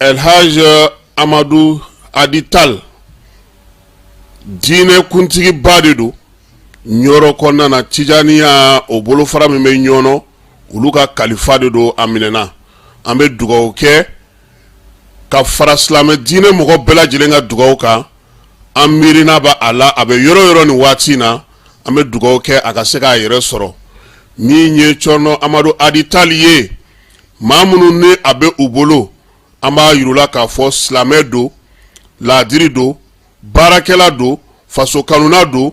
Elhaji amadu aditali diinɛ kuntigi ba de don ɲɔrɔ kɔnɔna na tijaniya o bolofara min bɛ ɲɔrɔ olu ka kalifa de don a minɛna an bɛ dugaw kɛ ka fara silamɛ diinɛ mɔgɔ bɛɛ lajɛlen ka dugaw kan an miirina bɛ a la a bɛ yɔrɔ yɔrɔ nin waati in na an bɛ dugaw kɛ a ka se k'a yɛrɛ sɔrɔ min ye cɔrɔnɔ amadu aditali ye maa minnu ni a bɛ u bolo an b'a yira u la k'a fɔ silamɛ don laadiri don baarakɛla don faso kanuna don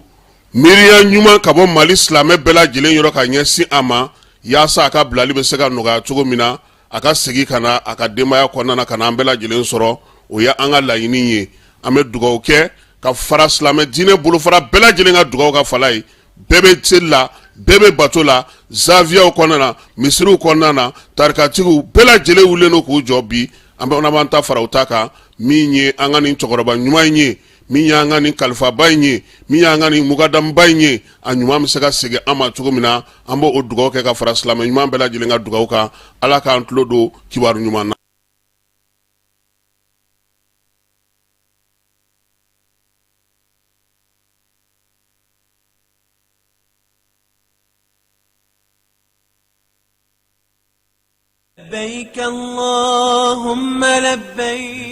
miiriya ɲuman ka bɔ mali silamɛ bɛɛ lajɛlen yɔrɔ ka ɲɛsin a ma yaasa a ka bilali bɛ se ka nɔgɔya cogo min na a ka segin ka na a ka denbaya kɔnɔna ka na an bɛɛ lajɛlen sɔrɔ o ye an ka laɲini ye an bɛ dugawu kɛ ka fara silamɛ diinɛ bolofara bɛɛ lajɛlen ka dugawu ka fala ye bɛɛ bɛ seli la bɛɛ bɛ bato la zawiyaw kɔnɔna na misiriw kɔnɔna na tarikatigiw bɛɛ lajɛlen wulilen don k'u jɔ bi an b'an ta fara u ta kan min ye an ka nin cɛkɔrɔba ɲuman in ye min y'an ka nin kalifaba in ye min y'an ka nin mukadamuba in ye a ɲuman bɛ se ka segin an ma cogo min na an b'o dugawu kɛ ka fara silamɛ ɲuman bɛɛ lajɛlen ka dugawu kan ala k'an tulo don kibaru ɲuman na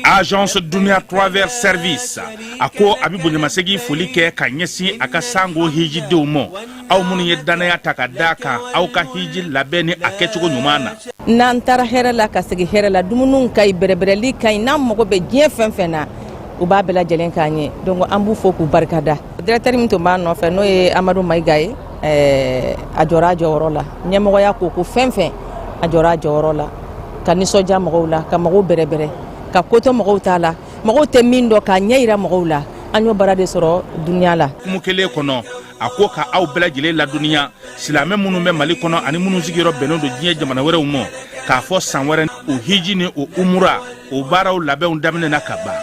agence dunia travel service a ko a bɛ bonyamasegin foli kɛ ka ɲɛsin a ka sango hijidenw ma aw minnu ye dannaya ta ka da a kan aw ka hiji labɛn ni a kɛcogo ɲuman na n'an taara hɛrɛ la ka segin hɛrɛ la dumuniw ka ɲi bɛrɛbɛrɛli ka ɲi n'an mago bɛ diɲɛ fɛn fɛn na u b'a bɛɛ lajɛlen k'an ye donc an b'u fo k'u barikada Directeur min tun b'an nɔfɛ n'o ye amadu mayiga ye a jɔra a jɔyɔrɔ la ɲɛmɔgɔya ko o ko fɛn fɛn a jɔra a jɔyɔrɔ la ka nisɔndiya mɔgɔw la ka mɔgɔw bɛrɛbɛrɛ ka koto mɔgɔw ta la mɔgɔw tɛ min dɔn k'a ɲɛ jira mɔgɔw la an y'o baara de sɔrɔ dunya la kuma kelen kɔnɔ a ko ka aw bɛɛ lajɛlen ladɔnniya silamɛ minnu bɛ mali kɔnɔ ani minnu sigiyɔrɔ bɛnnen don diɲɛ jamana wɛrɛw ma k'a fɔ san wɛrɛ o hiji ni o umura o baaraw labɛnw daminɛna ka ban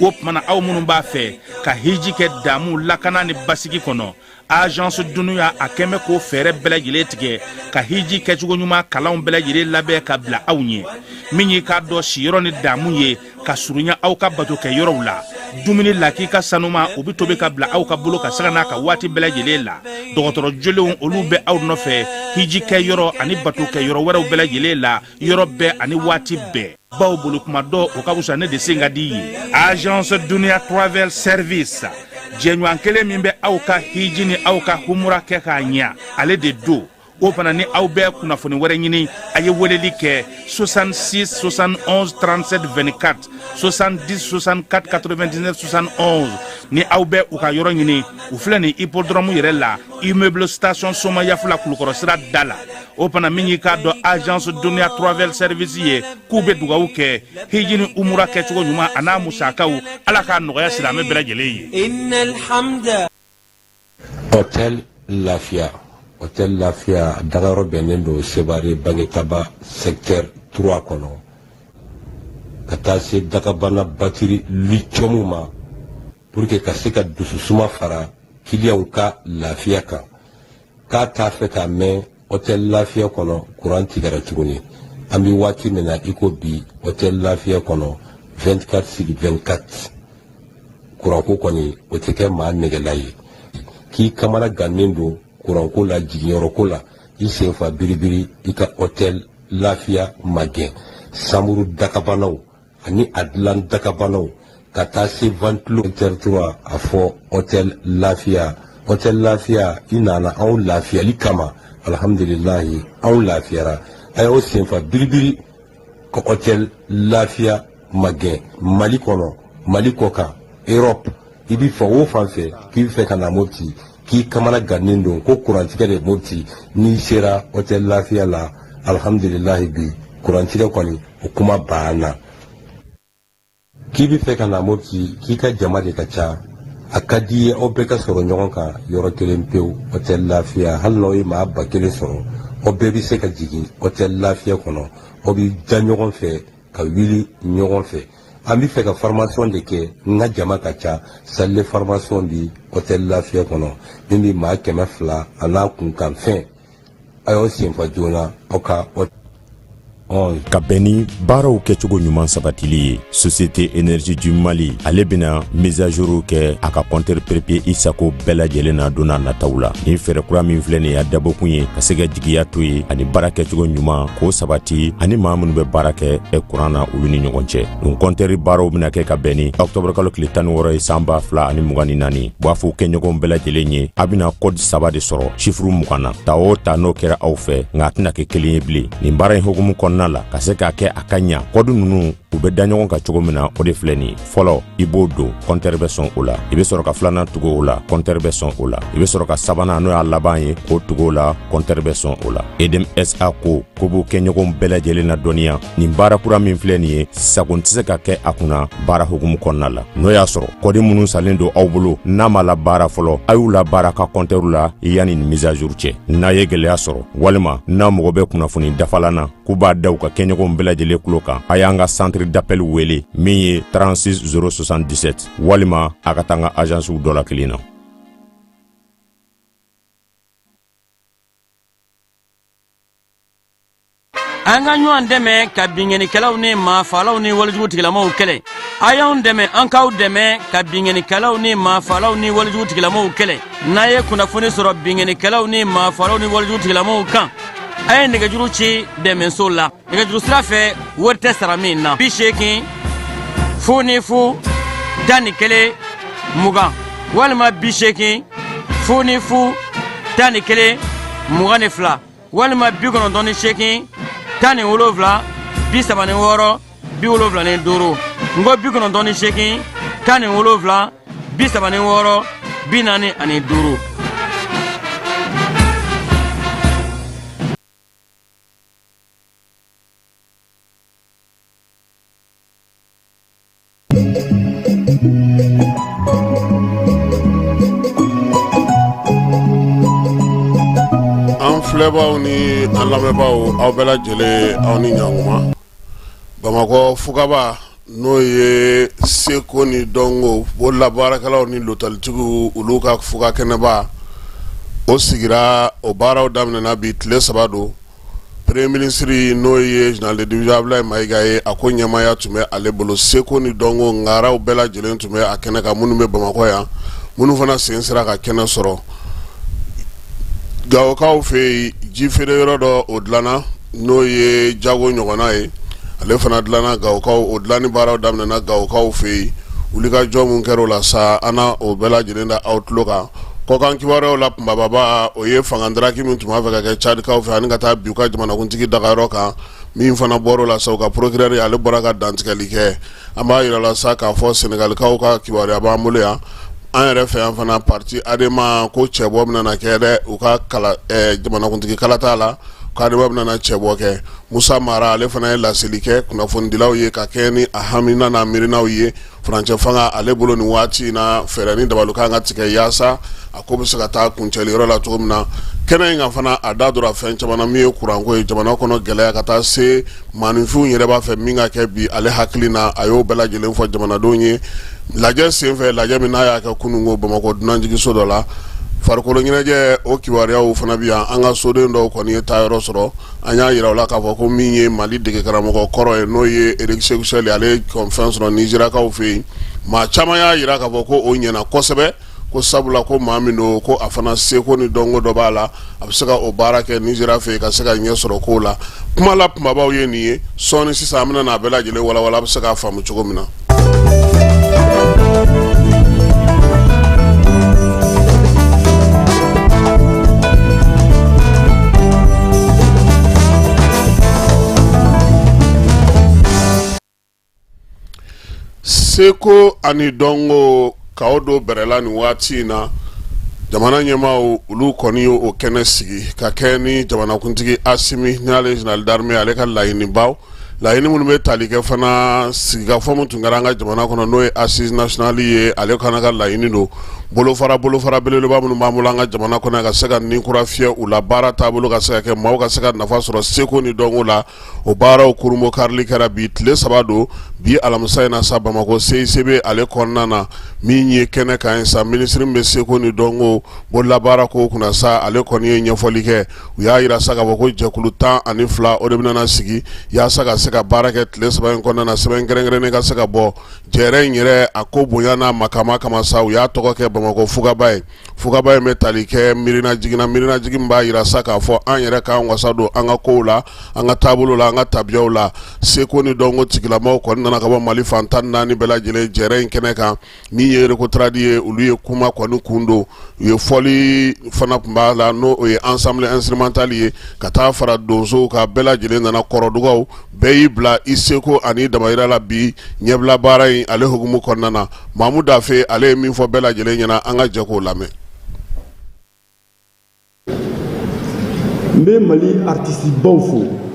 o tuma na aw minnu b'a fɛ ka hiji kɛ damu lakana ni basigi kɔnɔ agence dunia a kɛmɛ k'o fɛɛrɛ bɛɛ lajɛlen tigɛ ka hiji kɛcogo ɲuman kalanw bɛɛ lajɛlen labɛn ka bila aw ɲɛ min y'i k'a dɔn siyɔrɔ ni damu ye ka surunya aw ka bato kɛ yɔrɔw la dumuni lakika sanuman o bɛ tobi ka bila aw ka bolo kan sanga n'a ka waati bɛɛ lajɛlen la dɔgɔtɔrɔ jolenw olu bɛ aw nɔfɛ hiji kɛ yɔrɔ ani bato kɛ yɔrɔ wɛrɛw bɛɛ lajɛlen la yɔrɔ bɛɛ ani waati bɛɛ baw bolo kuma dɔn o ka wusa ne de sen ka di ye agence dunia travel service jɛɲɔgɔn kelen min bɛ aw ka hiji ni aw ka humura kɛ k'a ɲɛ ale de don o fana ni aw bɛ kunnafoni wɛrɛ ɲini a ye weleli kɛ 66 71 37 24 70 64 99 71 ni aw bɛ u ka yɔrɔ ɲini u filɛ nin hippodrɔmu yɛrɛ la immeuble station somayaf la kulukɔrɔ sira da la o fana min y'i k'a dɔn agence duniya travel service ye k'u be dugawu kɛ hiji ni umura kɛcogo ɲuman a n'a musakaw ala k'a nɔgɔya silamɛ bɛɛ lajɛlen ye hotel lafiya hotel lafiya dagayɔrɔ bɛnnen don sebare bangetaba secteur 3 kɔnɔ ka taa se dakabana batiri litiyɔmu ma pour que ka se ka dususuma fara kiliyanw ka lafiya kan k'a t'a fɛ k'a mɛn hôtel lafiya kɔnɔ kuran tigɛra tuguni an bɛ waati min na i ko bi hôtel lafiya kɔnɔ 24 sur 24 kuranko kɔni o tɛ kɛ maa nɛgɛla ye k'i kamana gannen don kuranko la jiginyɔrɔko la i senfa biribiri i ka hôtel lafiya magɛn sanburu dakabanaw ani a dilan dakabanaw ka taa se ventilo et cetera a fɔ hôtel lafiya hôtel lafiya i nana anw lafiyali kama alhamdulilahi anw lafiyara a y'aw senfa biribiri ka hôtel lafiya magɛn mali kɔnɔ mali kɔkan europe i bi fan o fan fɛ k'i bɛ fɛ ka na mopti k'i kamana gannen don ko kurantigɛ de mopti n'i sera hôtel lafiya la alhamdulilahi bi kurantigɛ kɔni o kuma banna k'i bɛ fɛ ka na mopti k'i ka jama de ka ca a ka d'i ye aw bɛɛ ka sɔrɔ ɲɔgɔn kan yɔrɔ kelen pewu hôtel lafiya hali n'aw ye maa ba kelen sɔrɔ aw bɛɛ bɛ se ka jigin hôtel lafiya kɔnɔ aw bɛ da ɲɔgɔn fɛ ka wuli ɲɔgɔn fɛ an bɛ fɛ ka formation de kɛ n ka jama ka ca salle de formation bi hôtel lafiya kɔnɔ min bɛ maa kɛmɛ fila a n'a kunkanfɛn a y'aw senfa joona aw ka ka bɛn ni baaraw kɛcogo ɲuman sabatili ye société énergie du mali ale bena mise à jour kɛ a ka compteur prépayé isago bɛɛ lajɛlen na donna nataw la nin fɛɛrɛ kura min filɛ nin y'a dabɔkun ye ka se ka jigiya to ye ani baara kɛcogo ɲuman k'o sabati ani maa minnu bɛ baara kɛ e kuran na olu ni ɲɔgɔn cɛ nin kɔntɛri baaraw bɛna kɛ ka bɛn ni octobre kalo tile tan ni wɔɔrɔ ye san ba fila ani mugan ni naani b'a fɔ kɛɲɔgɔn bɛɛ lajɛlen ye a bɛna kɔdi saba de sɔrɔ sifuru mugan na ta o ta n'o kɛra aw fɛ nka a tɛna kɛ kelen ye bilen nin baara in hukumu kɔnɔna la ka se k'a kɛ a ka ɲa kɔdi ninnu u bɛ da ɲɔgɔn kan cogo min na o de filɛ nin ye fɔlɔ i b'o don kɔntɛri bɛ sɔn o la i bɛ sɔrɔ ka filanan tugu o la kɔntɛri bɛ sɔn o la i bɛ sɔrɔ ka sabanan n'o y'a laban ye k'o tugu o la kɔntɛri bɛ sɔn o la EDM SA ko k'u b'u kɛɲɔgɔnw bɛɛ lajɛlen ladɔnniya nin baara kura min filɛ nin ye sagon tɛ se ka kɛ a kunna baara hukumu kɔnɔna la n'o y'a sɔrɔ kɔdi minnu sanlen don aw bolo n'a m'u labaara fɔlɔ a y'u labaara a ka kɔntɛriw la yanni nin mise à jour cɛ n'a ye gɛlɛya sɔrɔ walima n'a mago bɛ kunnafoni dafalan na k'u b'a da u ka kɛɲɔgɔnw bɛɛ lajɛlen tulo kan a y'an ka centre d'appel wele min ye 36 077 walima a ka taa an ka azansiw dɔ la kelen na an ka ɲɔgɔn dɛmɛ ka binkannikɛlaw ni maafalaw ni walejugu tigilamaw kɛlɛ a y'anw dɛmɛ an k'aw dɛmɛ ka binkannikɛlaw ni maafalaw ni walejugu tigilamaw kɛlɛ n'a ye kunnafoni sɔrɔ binkannikɛlaw ni maafalaw ni walejugu tigilamaw kan a ye nɛgɛjuru ci dɛmɛso la nɛgɛjuru sira fɛ wari tɛ sara min na bi seegin fu ni fu tan ni kelen mugan walima bi seegin fu ni fu tan ni kelen mugan ni fila walima bi kɔnɔntɔn ni seegin tan ni wolonwula bi saba ni wɔɔrɔ bi wolonwula ni duuru n ko bi kɔnɔntɔn ni seegin tan ni wolonwula bi saba ni wɔɔrɔ bi naani ani duuru an filɛbaaw ni an lamɛnbaaw aw bɛɛ lajɛlen aw ni ɲakuma bamakɔ fugaba n'o ye seko ni dɔnko bololabaarakɛlaw ni lotɛlitigiw olu ka fuga kɛnɛba o sigira o baaraw daminɛna bi tile saba don premier ministre n'o ye général de division Abdoulaye Mayiga ye a ko ɲɛmaaya tun bɛ ale bolo seko ni dɔnko ŋaraw bɛɛ lajɛlen tun bɛ a kɛnɛ kan minnu bɛ bamakɔ yan minnu fana sen sera ka kɛnɛ sɔrɔ Gawokaw fɛ yen ji feere yɔrɔ dɔ o dilanna n'o ye jago ɲɔgɔnna ye ale fana dilanna gawokaw o dilanni baaraw daminɛna gawokaw fɛ yen wulikajɔ min kɛra o la sa an na o bɛɛ lajɛlen da aw tulo kan kɔkan kibaruyaw la kunbaba o ye fanga daraki min tun b'a fɛ ka kɛ cadikaw fɛ ani ka taa bin u ka jamanakuntigi dagayɔrɔ kan min fana bɔra o la sa u ka procureur ale bɔra ka dantigɛli kɛ An b'a jira aw la sa k'a fɔ sɛnɛgalikaw ka kibaruya b'an bolo yan an yɛrɛ fɛ yan fana pati Adema ko cɛbɔ bɛna kɛ dɛ u ka jamanakuntigi kalata la k'Adema bɛna cɛbɔ kɛ musa mara ale fana ye laseli kɛ kunnafonidilaw ye ka kɛ ni a haminan n'a miirinaw ye furancɛ fanga ale bolo nin waati in na fɛɛrɛ ni dabaliw kan ka tigɛ yaasa a ko bɛ se ka taa kuncɛli yɔrɔ la cogo min na kɛnɛ in kan fana a da donna fɛn caman na min ye kuranko ye jamana kɔnɔ gɛlɛya ka taa se maaninfinw yɛrɛ b'a fɛ min ka kɛ bi ale hakili na a y'o bɛɛ lajɛlen fɔ jamanadenw ye lajɛ senfɛ lajɛ min n'a y'a kɛ kunungo bamakɔ dunanjiginso dɔ la farikolo ɲɛnajɛ o kibaruyaw fana bɛ yan an ka soden dɔw kɔni ye taayɔrɔ sɔrɔ an y'a jira aw la k'a fɔ ko min ye mali dege karamɔgɔ kɔrɔ ye n'o ye eriki seku sɛli ale ye fɛn sɔrɔ nizeriyakaw fɛ yen maa caman y'a jira k'a fɔ ko o ɲɛna kosɛbɛ ko sabula ko maa min don ko a fana seko ni dɔnko dɔ b'a la a bɛ se ka o baara kɛ nizeriya fɛ ka se ka ɲɛ sɔrɔ kow la kuma la kumabaw ye nin ye sɔɔni sisan an bɛna n'a bɛɛ lajɛlen walawala a bɛ se k'a faamu cogo min na seko ani dɔnko k'aw don bɛrɛla nin waati in na jamana ɲɛmaaw olu kɔni y'o kɛnɛ sigi ka kɛ ni jamanakuntigi asimi n'ale zenerali darime ale ka laɲinibaw laɲini minnu bɛ tali kɛ fana sigikafɔ min tun kɛra an ka jamana kɔnɔ n'o ye asizi nasiyɔnali ye ale fana ka laɲini don bolofara bolofara belebeleba minnu b'an bolo an ka jamana kɔnɔ ka se ka nin kura fiyɛ u la baara taabolo ka se ka kɛ maaw ka se ka nafa sɔrɔ seko ni dɔnko la o baaraw kurunbonkarili kɛra bi tile saba don bi alamisa in na sa bamakɔ seisebe ale kɔnɔna na min ye kɛnɛ kan yen sa minisiri bɛ seko ni dɔnko bolola baara ko kunna sa ale kɔni ye ɲɛfɔli kɛ u y'a jira sa k'a fɔ ko jɛkulu tan ani fila o de bɛna sigi yaasa ka se ka baara kɛ tile saba in kɔnɔna na sɛbɛn kɛrɛnkɛrɛnnen ka se ka bɔ jɛrɛ in yɛrɛ a ko bonya n'a makama kama sa u y'a tɔgɔ kɛ bamakɔ fugaba ye fugaba in bɛ tali kɛ miirinajigin na miirinajigin b'a jira sa k'a fɔ an yɛrɛ k'an wasa don an ka kow la an ka taabolo la an ka tabiyaw la seko ni dɔnko tigilamaw kɔni nana ka bɔ mali fan tan naani bɛɛ lajɛlen jɛrɛ in kɛnɛ kan min ye rekotaradi ye olu ye kuma kɔni kun don u ye fɔli fana tun b'a la n'o ye ansanbli ɛnsitirimantali ye ka taa fara donsow kan bɛɛ lajɛlen nana kɔrɔdugaw bɛɛ y'i bila i seko ani i damayira la bi ɲɛbila baara in ale hukumu kɔnɔna na mamu dafe ale ye min fɔ bɛɛ lajɛlen ɲɛna an ka jɛ k'o lamɛn n bɛ mali aritisibaw fo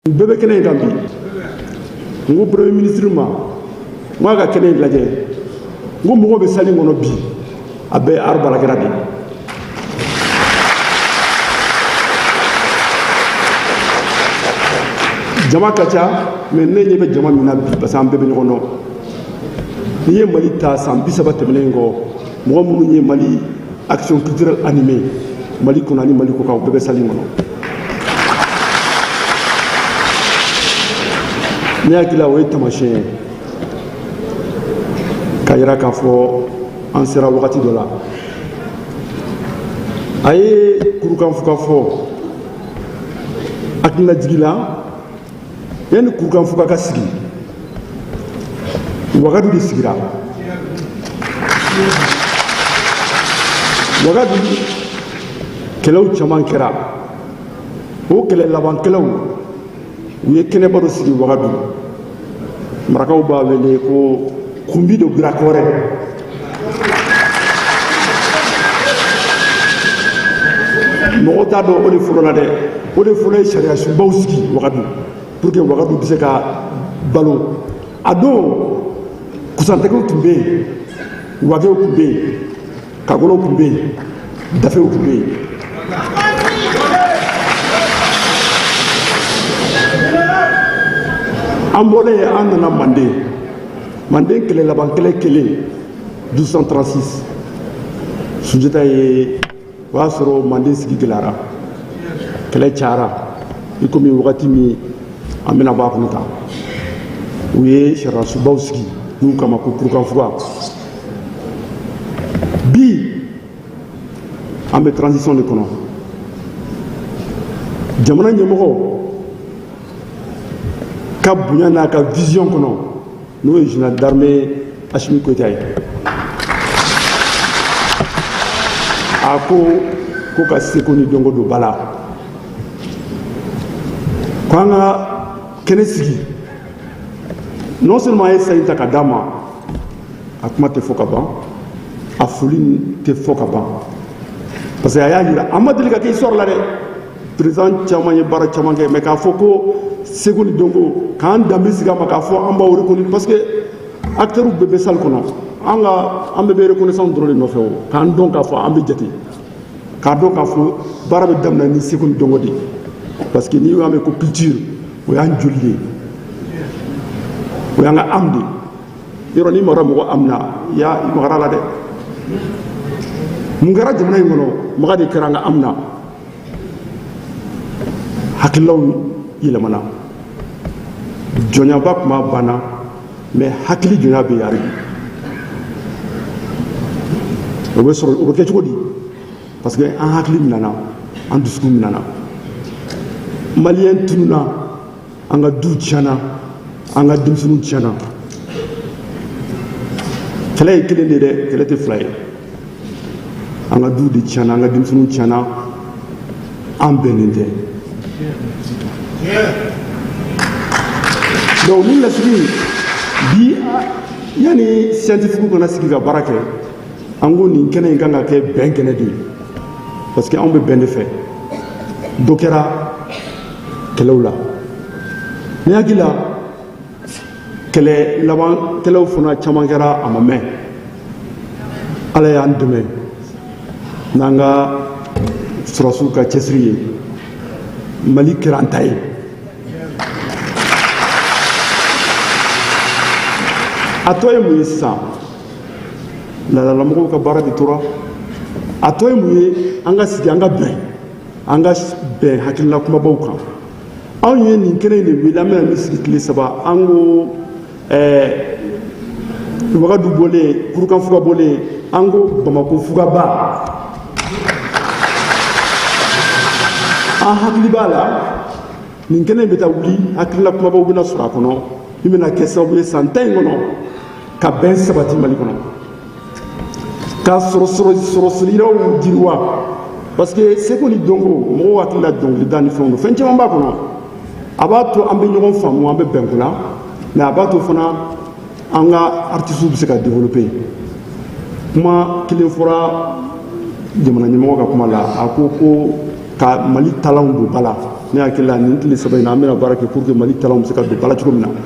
u bɛɛ bɛ kɛnɛ in kan bi n ko premier ministre ma n ko a ka kɛnɛ in lajɛ n ko mɔgɔw bɛ salle kɔnɔ bi a bɛɛ art baarakɛla de jama ka ca mais ne ɲɛ bɛ jama min na bi parce que an bɛɛ bɛ ɲɔgɔn dɔn n'i ye mali ta san bi saba tɛmɛnen kɔ mɔgɔ minnu ye mali action culturelle animée mali kɔnɔ ani mali kɔkan bɛɛ bɛ salle kɔnɔ ne hakili la o ye tamasiyɛn ye k'a yira k'a fɔ an sera wagati dɔ la a ye kurukanfuga fɔ hakililajigi la yanni kurukanfuga ka sigi wagadu de sigira wagadu kɛlɛw caman kɛra o kɛlɛ laban kɛlɛw u ye kɛnɛba dɔ sigi wagadu marakaw b'a wele ko kunbi do birakɔrɛ mɔgɔw t'a dɔn o de fɔlɔla dɛ o de fɔlɔ ye sariyasunbaw sigi wagadu pour que wagadu bɛ se ka balo a don kusantegew tun bɛ yen wagew tun bɛ yen kagolow tun bɛ yen dafew tun bɛ yen an bɔlen an nana manden manden kɛlɛ laban kɛlɛ kɛlen 1236 sunjata ye o y'a sɔrɔ manden sigi gɛlɛyara kɛlɛ cayara i komi wagati min an bɛna bɔ a kɔnɔ tan u ye sariyasunbaw sigi n'u k'a ma ko kurukanfuga bi an bɛ transition de kɔnɔ jamana ɲɛmɔgɔ ka bonya n'a ka vision kɔnɔ n'o ye général d'armée Assimi Goïta ye a ko ka seko ni dɔnko don ba la ko an ka kɛnɛ sigi non seulement a ye san in ta ka d'a ma a kuma tɛ fɔ ka ban a foli tɛ fɔ ka ban parce que a y'a jira a ma deli ka kɛ histoire la dɛ président caman ye baara caman kɛ mais k'a fɔ ko seko ni dɔnko k'an danbe sigi a ma k'a fɔ an b'aw reconnaître parce que acteurs bɛɛ bɛ salle kɔnɔ an ka an bɛɛ bɛ reconnaissance dɔrɔn de nɔfɛ o k'an dɔn k'a fɔ an bɛ jate k'a dɔn k'a fɔ baara bɛ daminɛ ni seko ni dɔnko de ye parce que n'i y'a mɛn ko culture o y'an joli de ye o y'an ka âme de ye yɔrɔ n'i magara mɔgɔ âme na i y'a i magara a la dɛ mun kɛra jamana in kɔnɔ maga de kɛra an ka âme na hakililaw yɛlɛmana jɔnyaba kuma banna mais hakili jɔnya bɛ yen hali bi o bɛ sɔrɔ o bɛ kɛ cogo di parce que an hakili minana an dusukun minana maliyɛn tununa an ka duw tiɲɛna an ka denmisɛnninw tiɲɛna kɛlɛ ye kelen de dɛ kɛlɛ tɛ fila ye an ka duw de tiɲɛna an ka denmisɛnninw tiɲɛna an bɛnnen tɛ donc ni lasigi bi yanni scientifique ka na sigi ka baara kɛ an ko nin kɛnɛ in kan ka kɛ bɛn kɛnɛ de ye parce que anw bɛ bɛn de fɛ dɔ kɛra kɛlɛw la ne hakili la kɛlɛ laban kɛlɛw fana caman kɛra a ma mɛn ala y'an dɛmɛ n'an ka sɔrɔdasiw ka cɛsiri ye mali kɛra an ta ye a tɔ ye mun ye sisan laadalamɔgɔw ka baara de tora a tɔ ye mun ye an ka sigi an ka bɛn an ka bɛn hakilina kumabaw kan anw ye nin kɛnɛ in de wele an bɛna min sigi tile saba an ko wagadu bɔlen kurukan fuga bɔlen an ko bamako fugaba an hakili b'a la nin kɛnɛ in bɛ taa wuli hakilina kumabaw bɛna sɔrɔ a kɔnɔ min bɛna kɛ sababu ye san tan in kɔnɔ ka bɛn sabati mali kɔnɔ ka sɔrɔ sɔrɔsiraw jiriwa parce que seko ni dɔnko mɔgɔw hakili la dɔnkilida ni fɛnw don fɛn caman b'a kɔnɔ a b'a to an bɛ ɲɔgɔn faamu an bɛ bɛn ko la mais a b'a to fana an ka artisiw bɛ se ka développer kuma kelen fɔra jamana ɲɛmɔgɔ ka kuma la a ko ko ka mali talanw don ba la ne hakili la nin tile saba in na an bɛna baara kɛ pour que mali talanw bɛ se ka don ba la cogo min na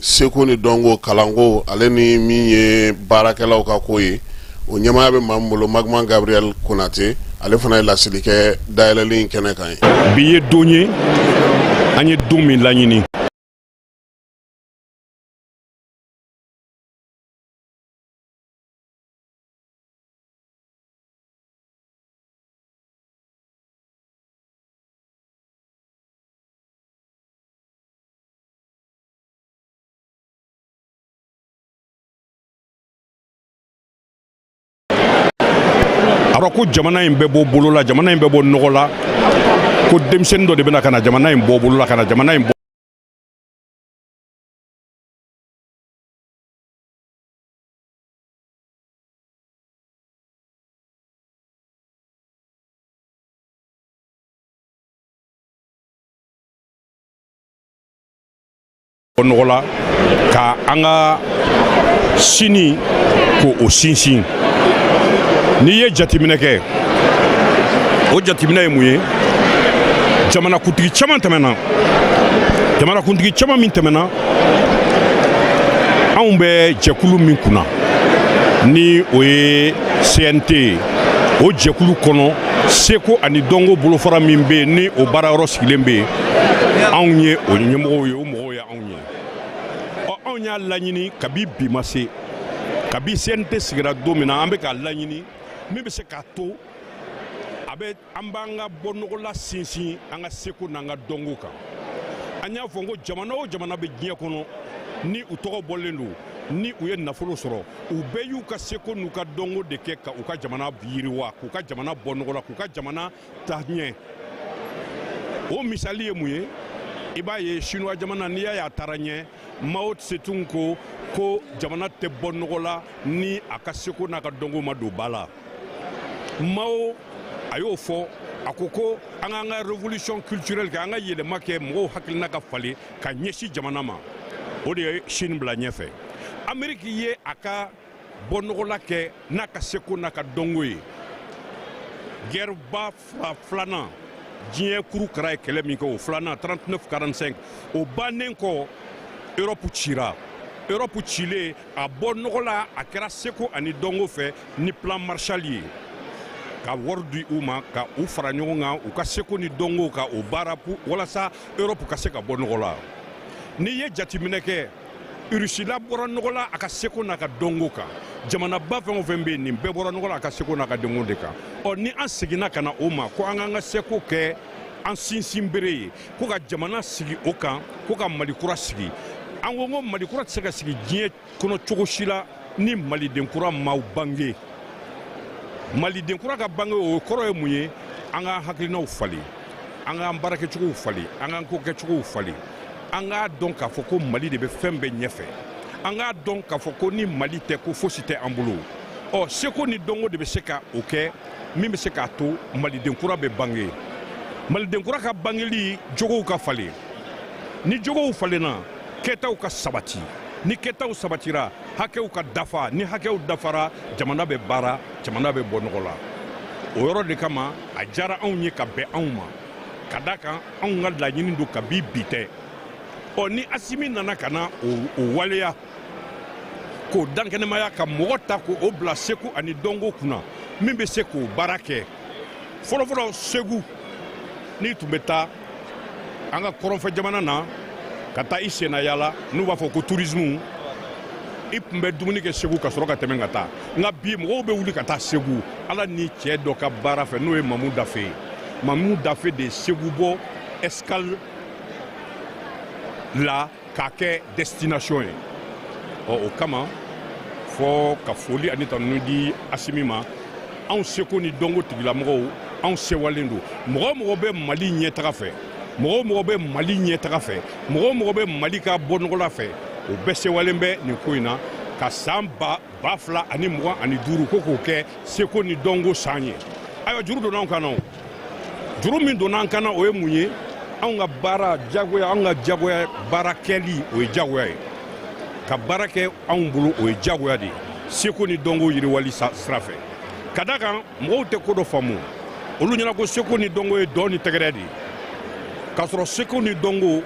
seko ni dɔnko kalanko ale ni min ye baarakɛlaw ka ko ye o ɲɛmaaya bɛ maa min bolo magma gabriel konatɛ ale fana ye laseli kɛ dayɛlɛli kɛnɛ kan ye bi ye don ye an ye don min laɲini alors ko jamana in bɛ bɔ bolo la jamana in bɛ bɔ nɔgɔ la ko denmisɛnnin dɔ de bɛ na ka na jamana in bɔ bolo la ka na jamana in bɔ nɔgɔ la ka an ka sini ko o sinsin n'i ye jateminɛ kɛ o jateminɛ ye mun ye jamanakuntigi caman tɛmɛna jamanakuntigi caman min tɛmɛna anw bɛ jɛkulu min kunna ni o ye cnt ye o jɛkulu kɔnɔ seko ani dɔnko bolofara min bɛ yen ni o baarayɔrɔ sigilen bɛ yen anw ye o ɲɛmɔgɔw ye o mɔgɔw ye anw ye ɔ anw y'a laɲini kabi bi ma se kabi cnt sigira don min na an bɛ k'a laɲini min bɛ se k'a to a bɛ an b'an ka bɔnɔgɔla sinsin an ka seko n'an ka dɔnko kan an y'a fɔ ko jamana o jamana bɛ diɲɛ kɔnɔ ni u tɔgɔ bɔlen don ni u ye nafolo sɔrɔ u bɛɛ y'u ka seko n'u ka dɔnko de kɛ ka u ka jamana yiriwa k'u ka jamana bɔ nɔgɔ la k'u ka jamana ta ɲɛ o misali ye mun ye i b'a ye chinois jamana n'i y'a ye a taara ɲɛ mao tse tung ko ko jamana tɛ bɔ nɔgɔ la ni a ka seko n'a ka dɔnko ma don ba la mao a y'o fɔ a ko ko an k'an ka révolution culturelle kɛ an ka yɛlɛma kɛ mɔgɔw hakilina ka falen ka ɲɛsin jamana ma o de ye chine bila ɲɛfɛ ameriki ye a ka bɔnɔgɔla kɛ n'a ka seko n'a ka dɔnko ye gɛrɛba fila filanan diɲɛ kuru kara ye kɛlɛ min kɛ o filanan 39 45 o bannen kɔ erɔpu cira erɔpu cilen a bɔ nɔgɔ la a kɛra seko ani dɔnko fɛ ni plan marshall ye ka wari di u ma ka u fara ɲɔgɔn kan u ka seko ni dɔnko ka o baara walasa erɔpu ka se ka bɔ nɔgɔ la n'i ye jateminɛ kɛ rusila bɔra nɔgɔ la a ka seko n'a ka dɔnko kan jamanaba fɛn o fɛn bɛ yen nin bɛɛ bɔra nɔgɔ la a ka seko n'a ka dɔnko de kan ɔ ni an seginna ka na o ma ko an k'an ka seko kɛ an sinsinbere ye ko ka jamana sigi o kan ko ka mali kura sigi an ko ko mali kura tɛ se ka sigi diɲɛ kɔnɔ cogo si la ni maliden kura ma bange maliden kura ka bange o kɔrɔ ye mun ye an k'an hakilinaw falen an k'an baarakɛcogow falen an k'an ko kɛcogow falen an k'a dɔn k'a fɔ ko mali de bɛ fɛn bɛɛ ɲɛfɛ an k'a dɔn k'a fɔ ko ni mali tɛ ko fosi tɛ an bolo ɔ seko ni dɔnko de bɛ se ka o kɛ min bɛ se k'a to maliden kura bɛ bange maliden kura ka bangeli jogow ka falen ni jogow falenna kɛtaw ka sabati ni kɛtaw sabatira hakɛw ka dafa ni hakɛw dafara jamana bɛ baara jamana bɛ bɔ nɔgɔ la o yɔrɔ de kama a diyara anw ye ka bɛn anw ma ka da kan anw ka laɲini don kabi bi tɛ ɔ ni asimi nana ka na o waleya k'o dankɛnɛmaya ka mɔgɔ ta k'o bila seko ani dɔnko kunna min bɛ se k'o baara kɛ fɔlɔfɔlɔ segu n'i tun bɛ taa an ka kɔrɔnfɛ jamana na ka taa i senna yaala n'u b'a fɔ ko tourisme i tun bɛ dumuni kɛ segu ka sɔrɔ ka tɛmɛ ka taa nka bi mɔgɔw bɛ wuli ka taa segu ala ni cɛ dɔ ka baara fɛ n'o ye mamu dafe ye mamu dafe de ye segu bɔ escale la k'a kɛ destination ye ɔ o kama fɔ ka foli ani tanuni di asimi ma anw seko ni dɔnko tigilamɔgɔw anw sewalen don mɔgɔ o mɔgɔ bɛ mali ɲɛtaga fɛ mɔgɔ o mɔgɔ bɛ mali ɲɛtaga fɛ mɔgɔ o mɔgɔ bɛ mali ka bɔnɔgɔla fɛ o bɛɛ sewalen bɛ nin ko in na ka san ba ba fila ani mugan ani duuru ko k'o kɛ seko ni dɔnko san ye ayiwa juru donna anw kan na juru min donna an kan na o ye mun ye anw ka baara jagoya anw ka jagoya baara kɛli o ye jagoya ye ka baara kɛ anw bolo o ye jagoya de ye seko ni dɔnko yiriwali sira fɛ ka da kan mɔgɔw tɛ ko dɔ faamu olu ɲɛna ko seko ni dɔnko ye dɔn ni tɛgɛrɛ de ye k'a sɔrɔ seko ni dɔnko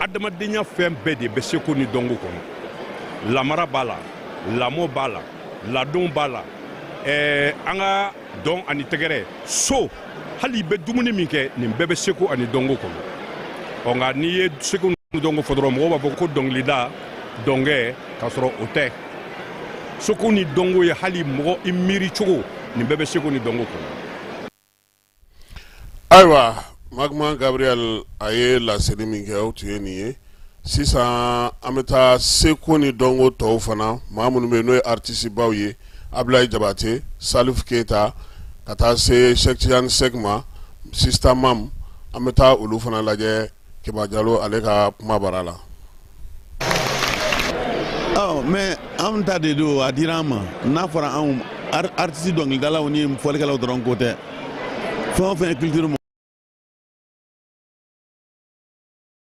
adamadenya fɛn bɛɛ de bɛ seko ni dɔnko kɔnɔ lamara b'a la lamɔ b'a la ladon b'a la ɛɛ an ka dɔn ani tɛgɛrɛ so hali i bɛ dumuni min kɛ nin bɛɛ bɛ seko ani dɔnko kɔnɔ ɔ nka n'i ye seko ni dɔnko fɔ dɔrɔn mɔgɔw b'a fɔ ko dɔnkilida dɔnkɛ k'a sɔrɔ o tɛ seko ni dɔnko ye hali mɔgɔ i miiri cogo nin bɛɛ bɛ seko ni dɔnko kɔnɔ ayiwa magma gabriel a ye laseli min kɛ o tun ye nin ye sisan an bɛ taa seko ni dɔnko tɔw fana maa minnu bɛ yen n'o ye artistebaw ye ablaye jabate salif keyita ka taa se cheick tidiane seck ma sista mam an bɛ taa olu fana lajɛ kiba jalo ale ka kuma bara la mais an ta de don a dira an ma n'a fɔra anw artiste dɔnkilidalaw ni fɔlikɛlaw dɔrɔn ko tɛ fɛn o fɛn ye culture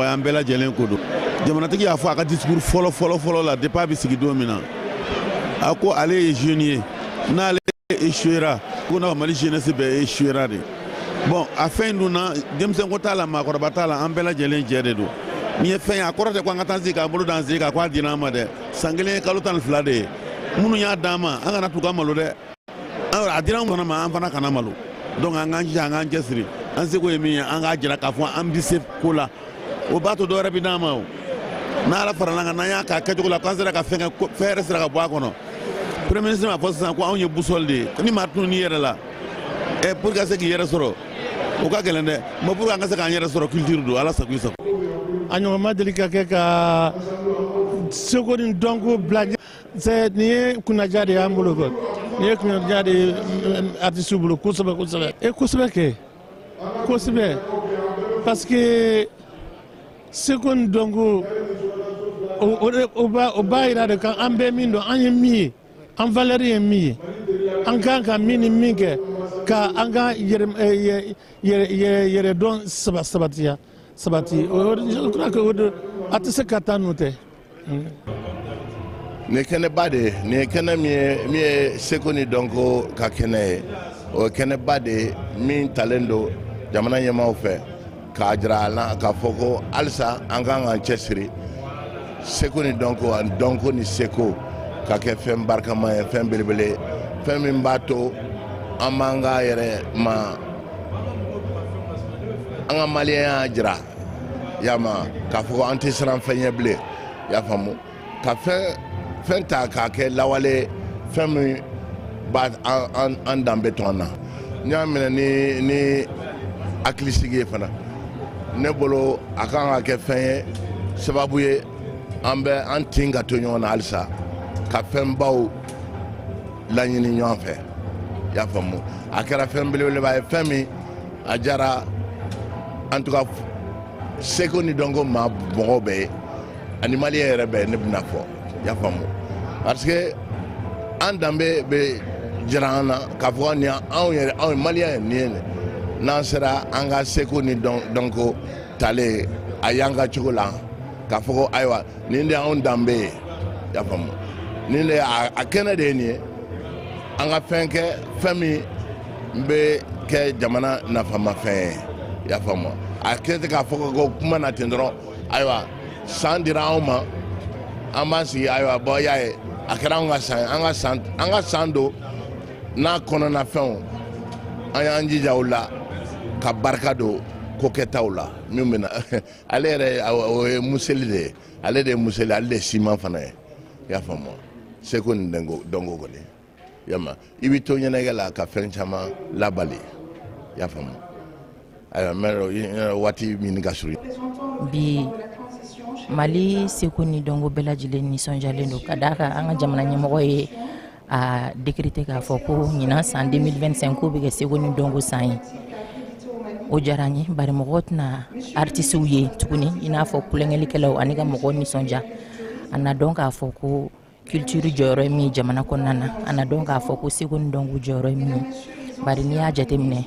mɔgɔ ye an bɛɛ lajɛlen ko don jamanatigi y'a fɔ a ka discours fɔlɔ fɔlɔ fɔlɔ la depuis a bɛ sigi don min na a ko ale ye jeune ye n'ale échouera ko na mali jeunesse bɛɛ échouera de bon a fɛn in dun na denmisɛnko t'a la maakɔrɔba t'a la an bɛɛ lajɛlen jɛ de don nin ye fɛn ye a kɔrɔ tɛ ko an ka taa sigi k'an bolo d'an sen kan ko a dira an ma dɛ san kelen ye kalo tan ni fila de ye minnu y'a d'an ma an kana t'u ka malo dɛ alors a dira an fana ma an fana kana malo donc an k'an jija an k'an cɛsiri an seko ye min ye an k'a jira k'a fɔ an bɛ se ko la o b'a to dɔ wɛrɛ bɛ d'an ma o n'ala farala kan n'an y'a k'a kɛcogo la k'an sera ka fɛn kɛ fɛn yɛrɛ sera ka bɔ a kɔnɔ premier ministre m'a fɔ sisan ko anw ye boussole de ye ni maa tunun'i yɛrɛ la ɛ pour ka se k'i yɛrɛ sɔrɔ o ka gɛlɛn dɛ mais pour an ka se k'an yɛrɛ sɔrɔ culture don ala sago i sago a ɲɔgɔn ma deli ka kɛ ka seko ni dɔnko bila c'est nin ye kunnaja de y'an bolo kɔ nin ye kunnaja de ye artistes bolo kosɛbɛ kosɛbɛ e kosɛbɛ kɛ kosɛbɛ parce que seko ni dɔnko o b'a yira de ko an bɛ min dɔn an ye min ye an valeur ye min ye an kan ka min ni min kɛ ka an ka yɛrɛdɔn sabatiya sabati o je crois que o de a tɛ se ka taa n'o tɛ. nin ye kɛnɛba de ye nin ye kɛnɛ min ye seko ni dɔnko ka kɛnɛ ye o ye kɛnɛba de ye min talen don jamana ɲɛmaaw fɛ k'a jira an na k'a fɔ ko halisa an kan k'an cɛsiri seko ni dɔnko ani dɔnko ni seko ka kɛ fɛn barikama ye fɛn belebele ye fɛn min b'a to an b'an ka yɛrɛ ma an ka maliyɛnya jira y'a ma k'a fɔ ko an tɛ siran fɛn ɲɛ bilen y'a faamu ka fɛn fɛn ta k'a kɛ lawale fɛn min b'a an danbe to an na n'i y'a minɛ ni hakilisigi ye fana ne bolo a kan ka kɛ fɛn ye sababu ye an bɛ an tin ka to ɲɔgɔn na halisa ka fɛnbaw laɲini ɲɔgɔn fɛ i y'a faamu a kɛra fɛn belebeleba ye fɛn min a jara en tout cas seko ni dɔnko ma mɔgɔw bɛɛ ye ani maliyɛn yɛrɛ bɛɛ ne bɛna fɔ i y'a faamu parce que an danbe bɛ jira an na k'a fɔ nin anw yɛrɛ anw maliyɛn nin ye nin n'an sera an ka seko ni dɔnko talen a y'an ka cogo la k'a fɔ ko ayiwa nin de y'anw danbe ye y'a faamu nin de a kɛnɛ de ye nin ye an ka fɛn kɛ fɛn min bɛ kɛ jamana nafamafɛn ye y'a faamu a kɛ tɛ k'a fɔ ko kuma na ten dɔrɔn ayiwa san dira anw ma an b'an sigi ayiwa bon y'a ye a kɛra anw ka san an ka san an ka san don n'a kɔnɔna fɛnw an y'an jija o la ka barika don ko kɛtaw la min bɛ na ale yɛrɛ o ye museli de ye ale de ye museli ale de ye siman fana ye i y'a faamu seko ni dɔnko kɔni yama i bɛ to ɲɛnajɛ la ka fɛn caman labali i y'a faamu ayiwa n bɛ waati min ka surun bi mali seko ni dɔnko bɛɛ lajɛlen nisɔndiyalen don ka d'a kan an ka jamana ɲɛmɔgɔ ye a décrété k'a fɔ ko ɲinan san 2025 k'o bɛ kɛ seko ni dɔnko san ye o diyara n ye bari mɔgɔw tɛna artisiw ye tuguni i n'a fɔ tulonkɛlikɛlaw ani ka mɔgɔw nisɔndiya a na dɔn k'a fɔ ko culture jɔyɔrɔ ye min ye jamana kɔnɔna na a na dɔn k'a fɔ ko seko ni dɔnko jɔyɔrɔ ye min ye bari n'i y'a jateminɛ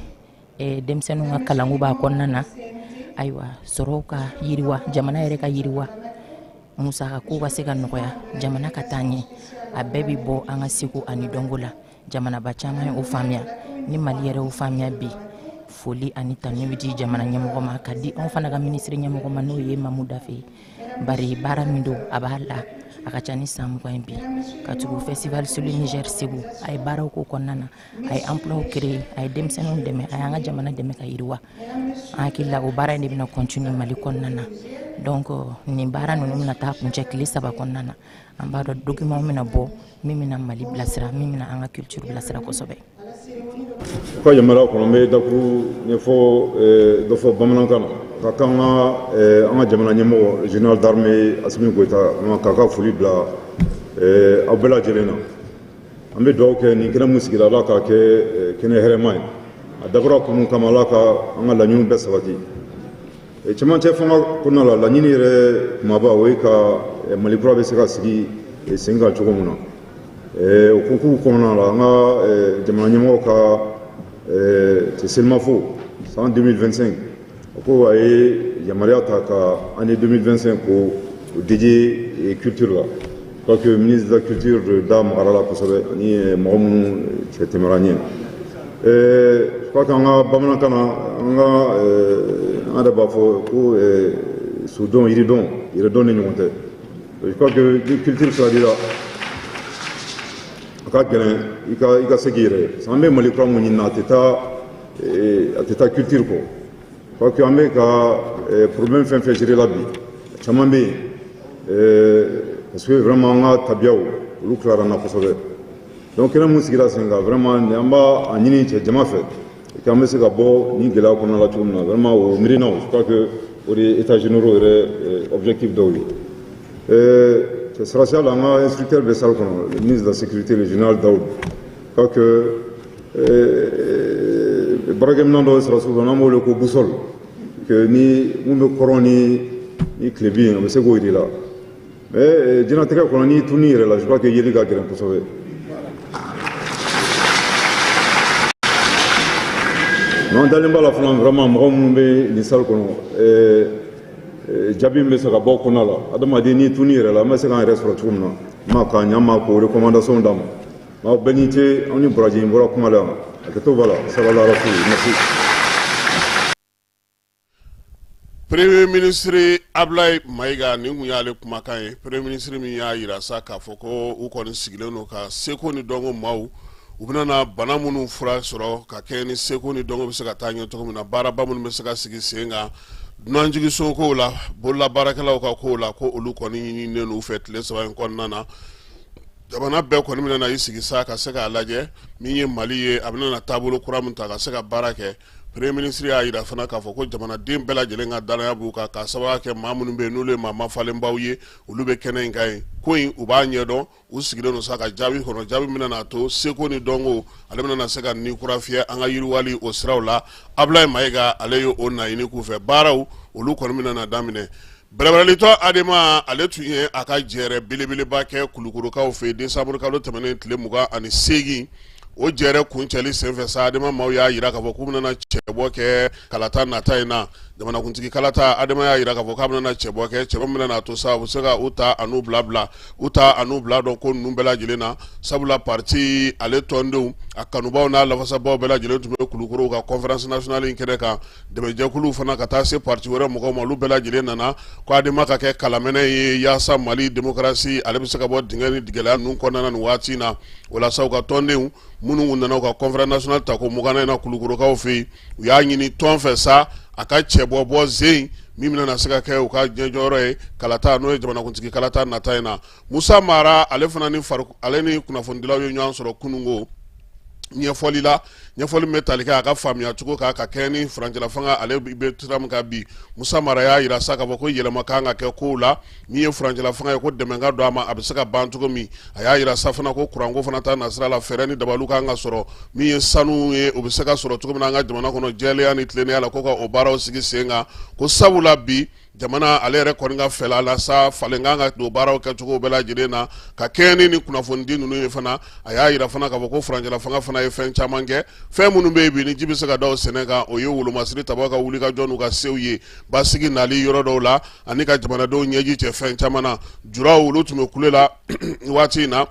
eh, denmisɛnninw ka kalanko b'a kɔnɔna na ayiwa sɔrɔw ka yiriwa jamana yɛrɛ ka yiriwa musaka ko ka se ka nɔgɔya jamana ka taa ɲɛ a bɛɛ bɛ bɔ an ka seko ani dɔnko la jamanaba caman ye o faamuya ni mali yɛrɛ o faamuya bi foli ani tanu bɛ di jamana ɲɛmɔgɔ ma ka di anw fana ka minisiri ɲɛmɔgɔ ma n'o ye mamu dafe ye bari baara min don a b'a la a ka ca ni san mugan ye bi ka tugu festival sur le niger segu a ye baaraw k'o kɔnɔna na a ye emploi créer a ye denmisɛnninw dɛmɛ a y'an ka jamana dɛmɛ ka yiriwa an hakili la o baara in de bɛna continuer mali kɔnɔna na donc nin baara ninnu bɛna taa kuncɛ tile saba kɔnɔna na an b'a dɔn document bɛna bɔ min bɛna mali bilasira min bɛna an ka culture bilasira kosɛbɛ aw ka yamaruya kɔnɔ n bɛ dakuruɲɛ fɔ eh, dɔ fɔ bamanankan na ka k'an ka eh, an ka jamana ɲɛmɔgɔ général d'armée asimi goyita k'a ka foli bila eh, aw bɛɛ lajɛlen na an bɛ dugawu kɛ nin kɛnɛ min sigira ala k'a kɛ eh, kɛnɛ hɛrɛma ye a dabɔra kun min kama ala ka an ka laɲiniw bɛɛ sabati eh, cɛmancɛ fanga kɔnɔna la laɲini yɛrɛ kumaba o ye ka eh, mali kura bɛ se ka sigi sen kan cogo min na o hukumu kɔnɔna la an ka jamana ɲɛmɔgɔ ka tɛ selimafo san 2025 o ko a ye yamaruya ta ka année 2025 k'o dédier culture la je crois que ministre de la culture da magara la kosɛbɛ ani mɔgɔ minnu cɛ tɛmɛra ɲɛ je crois qu'an ka bamanankan na an ka an yɛrɛ b'a fɔ ko sodɔn yiridɔn yɛrɛdɔn de ɲɔgɔn tɛ je crois que ni culture sira dira a ka gɛlɛn i ka i ka se k'i yɛrɛ ye an bɛ mali kura mun ɲini na a tɛ taa ee, a tɛ taa culture kɔ je crois que an bɛ ka ee, problème fɛn fɛn gérer la bi caman bɛ yen ee, parce que vraiment an ka tabiyaw olu tilara an na kosɛbɛ donc kɛnɛ mun sigira sen kan vraiment nin an b'a a ɲini cɛ jama fɛ k'an bɛ se ka bɔ nin gɛlɛya kɔnɔna la cogo min na vraiment o miirinaw je crois que o de ye états généraux yɛrɛ ee, objectif dɔw ye. Ee, cɛ sɔrɔdasiya la an ka instructeur bɛ salle kɔnɔ le ministre de la sécurité le général Daoud crois que euh, baarakɛminɛn dɔ sɔrɔ sugu n'an b'o wele ko boussole que ni mun bɛ kɔrɔn ni ni tilebin ye a bɛ se k'o jira i la mais euh, diɲɛnatigɛ kɔnɔ n'i tununn'i yɛrɛ la je crois que yeli ka gɛlɛn kosɛbɛ n'an dalen b'a la fana vraiment mɔgɔ minnu bɛ nin salle kɔnɔ euh, euh, jaabi min bɛ se ka bɔ o kɔnɔna la adamaden n'i tununn'i yɛrɛ la an bɛ se k'an yɛrɛ sɔrɔ cogo min na n ma k'a ɲɛ n ma k'o recommandation d'a ma Bon, bɛɛ n'i ce aw ni baraji n bɔra kuma la a kɛ to b'a la salala rasul merci Premier ministre Ablaye Mayiga nin kun y'ale kumakan ye Premier ministre min y'a yira sa k'a fɔ ko u kɔni sigilen don ka seko ni dɔnko maaw u bɛna na bana minnu fura sɔrɔ ka kɛɲɛ ni seko ni dɔnko bɛ se ka taa ɲɛ cogo min na baaraba minnu bɛ se ka sigi sen kan dunanjigiso kow la bololabaarakɛlaw ka kow la ko olu kɔni ɲininen don u fɛ tile saba in kɔnɔna na jamana bɛɛ kɔni bɛna na i sigi sa ka se k'a lajɛ min ye mali ye a bɛna na taabolo kura min ta ka se ka baara kɛ premier ministre y'a yira fana k'a fɔ ko jamanaden bɛɛ lajɛlen ka dannaya b'u kan k'a sababu kɛ maa minnu bɛ n'olu ye maa mafalenbaw ye olu bɛ kɛnɛ in kan yen ko in u b'a ɲɛdɔn u sigilen don sa ka jaabi kɔnɔ jaabi min na a to seko ni dɔnko ale bɛna na se ka ni kura fiyɛ an ka yiriwali o siraw la ablaye mayiga ale ye o naɲini k'u fɛ baaraw olu kɔni bɛna na daminɛ Bɛrɛbɛrɛlitɔn Adema ale tun ye a ka jɛrɛ belebeleba kɛ Kulukorokaw fɛ yen décembre kalo tɛmɛnen tile 28 o jɛrɛ kuncɛli senfɛ sa Adema maaw y'a yira k'a fɔ k'u bɛna cɛbɔ kɛ kalata nata in na jamanakuntigi kalata Adema y'a yira k'a fɔ k'a bɛna cɛbɔ kɛ cɛbɔ min bɛna a to sa u bɛ se ka u ta an'u bila bila u ta an'u bila dɔn ko ninnu bɛɛ lajɛlen na sabula pati ale tɔndenw a kanubaw n'a lafasabaw bɛɛ lajɛlen tun bɛ kulukoro u ka conférence nationale in kɛnɛ kan dɛmɛjɛkulu fana ka taa se pati wɛrɛ mɔgɔw ma olu bɛɛ lajɛlen nana ko adema ka kɛ kalamɛnɛ ye yaasa mali demokarasi ale bɛ se ka bɔ dingɛ ni gɛlɛya ninnu kɔnɔna nin waati in na walasa u ka tɔndenw minnu nana u ka conférence nationale tako muganan in na kulukorokaw fɛ yen u y'a ɲini tɔn fɛ sa a ka cɛbɔ bɔ zen min bɛna na se ka kɛ u ka ɲɛjɔyɔrɔ ye kalata n'o ye jamanakuntigi kalata nata in na musa mara ale fana ni ale ni kunnafonidilaw ye ɲɔgɔn sɔrɔ kununko ɲɛfɔli la ɲɛfɔli min bɛ tali kɛ a ka faamuyacogo kan ka kɛ ni furancɛlafanga ale bɛ sira min kan bi musa mara y'a yira sa k'a fɔ ko yɛlɛma kan ka kɛ kow la Min ye furancɛla fanga ye ko dɛmɛ ka don a ma, a bɛ se ka ban cogo min, a y'a yira sa fana ko kuranko fana ta nasira la, fɛɛrɛ ni dabaliw ka kan ka sɔrɔ min ye sanu ye, o bɛ se ka sɔrɔ cogo min na an ka jamana kɔnɔ jɛlenya ni tilennenya la, ko ka o baaraw sigi sen kan, ko sabula bi jamana ale yɛrɛ kɔni ka fɛla la sa, falen ka kan ka don baaraw kɛcogo bɛɛ lajɛlen na, ka kɛɲɛ ni nin kunnafonidi ninnu ye fana, a y'a yira fana k'a fɔ ko furancɛla fanga fana ye fɛn caman kɛ, fɛn minnu bɛ yen bi ni ji bɛ se ka da o sɛnɛ kan, o ye wolomasiri tabaaw ka wulikajɔ n'u ka sew ye basigi nali yɔrɔ dɔw la. ani ka jamanadenw ɲɛji cɛ fɛn caman na juraw olu tun bɛ kule la waati in na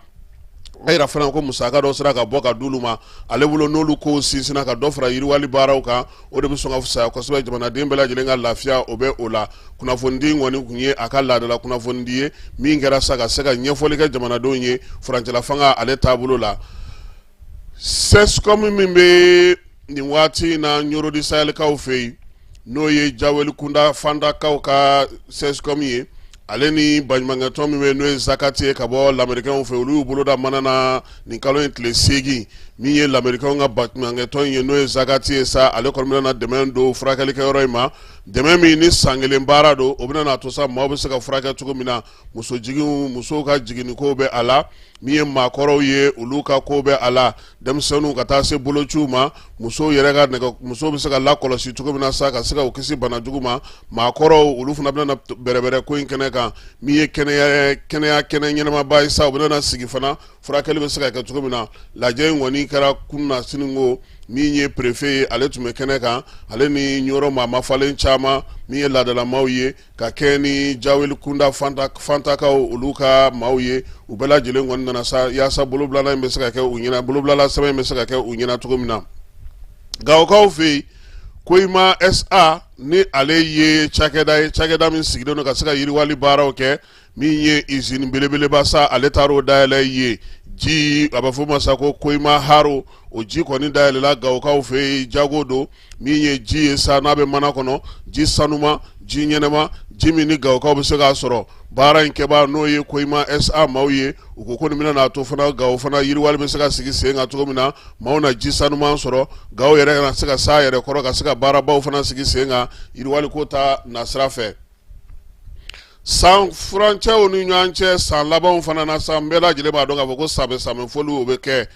a yira fana ko musaka dɔ sera ka bɔ ka d'olu ma ale bolo n'olu kow sinsinna ka dɔ fara yiriwali baaraw kan o de bɛ sɔn ka fisaya kosɛbɛ jamanaden bɛɛ lajɛlen ka lafiya o bɛ o la kunnafonidi in kɔni tun ye a ka laadala kunnafonidi ye min kɛra sa ka se ka ɲɛfɔli kɛ jamanadenw ye furancɛlafanga ale taabolo la sɛsikɔmi min bɛ nin waati in na ɲorodisayɛlikaw fɛ yen n'o ye jawelikunda fandakaw ka sɛsikɔmi ye ale ni baɲumankɛtɔn min bɛ n'o ye zakati ye ka bɔ lamerikɛnw fɛ olu y'u boloda mana na nin kalo in tile seegin min ye lamerikɛnw ka baɲumankɛtɔn in ye n'o ye zakati ye sa ale kɔni bɛna dɛmɛ don furakɛlikɛyɔrɔ in ma dɛmɛ min ni san kelen baara don o bɛna n'a to sa maaw bɛ se ka furakɛ cogo min na muso jigin musow ka jiginnikow bɛ a la min ye maakɔrɔw ye olu ka ko bɛ a la denmisɛnninw ka taa se bolociw ma musow yɛrɛ ka nɛgɛ musow bɛ se ka lakɔlɔsi cogo min na sa ka se ka u kisi bana jugu ma maakɔrɔw olu fana bɛna bɛrɛbɛrɛ ko in kɛnɛ kan min ye kɛnɛya kɛnɛya kɛnɛ ɲɛnamaba ye sa u bɛna sigi fana furakɛli bɛ se ka kɛ cogo min na lajɛ in kɔni kɛra kun na siniko min ye perefe ye ale tun bɛ kɛnɛ kan ale ni ɲɔrɔ maa mafalen caman min ye laadalamaw ye ka kɛ ni jaweli kunda fantakaw olu ka maaw ye u bɛɛ lajɛlen kɔni nana sa yaasa bolobilala in bɛ se ka kɛ u ɲɛna bolobilala sɛbɛn in bɛ se ka kɛ u ɲɛna cogo min na gawokaw fɛ yen koyima sa ni ale ye cakɛda ye cakɛda min sigilen don ka se ka yiriwali baaraw kɛ min ye izini belebeleba sa ale taara o dayɛlɛ ye ji a bɛ fɔ ma sa ko koyima haro o ji kɔni dayɛlɛla gawokaw fɛ yen jago don min ye ji ye sa n'a bɛ mana kɔnɔ ji sanuma ji ɲɛnama ji min ni gawokaw bɛ se k'a sɔrɔ baara in kɛbaa n'o ye koyima sa maaw ye u ko ko nin bɛna n'a to fana gawo fana yiriwali bɛ se ka sigi sen kan cogo min na maaw na ji sanuma sɔrɔ gawo yɛrɛ ka na se ka s'a yɛrɛ kɔrɔ ka se ka baarabaw fana sigi sen kan yiriwaliko ta nasira fɛ san furancɛw ni ɲɔgɔn cɛ san labanw fana na san bɛɛ lajɛlen b'a dɔn k'a fɔ ko sanbɛ sanbɛfoli o bɛ kɛ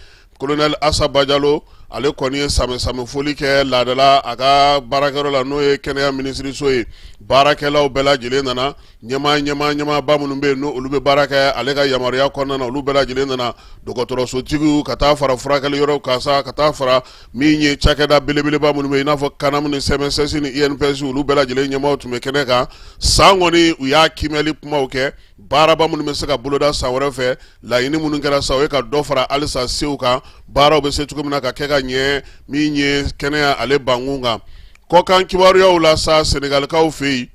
kolonɛli asa bajalo ale kɔni ye sanbɛ sanbɛfoli kɛ laada la a ka baarakɛyɔrɔ la n'o ye kɛnɛya minisiriso ye baarakɛlaw bɛɛ lajɛlen nana ɲɛmaa ɲɛmaa ɲɛmaaba minnu bɛ yen n' olu bɛ baara kɛ ale ka yamaruya kɔnɔna olu bɛɛ lajɛlen nana dɔgɔtɔrɔsotigiw ka taa fara furakɛliyɔrɔw kan sa ka taa fara min ye cakɛda belebeleba minnu bɛ yen i n'a fɔ kanamu ni CMSS ni INPS olu bɛɛ lajɛlen ɲɛmaaw tun bɛ kɛnɛ kan san kɔni u y'a kiimɛli kumaw kɛ baaraba minnu bɛ se ka boloda san wɛrɛ fɛ laɲini minnu kɛra sa o ye ka dɔ fara halisa sew kan baaraw bɛ se cogo min na ka kɛ ka ɲɛ min ye kɛnɛya ale bankun kan kɔkan kibaruyaw la sa senegalikaw fɛ yen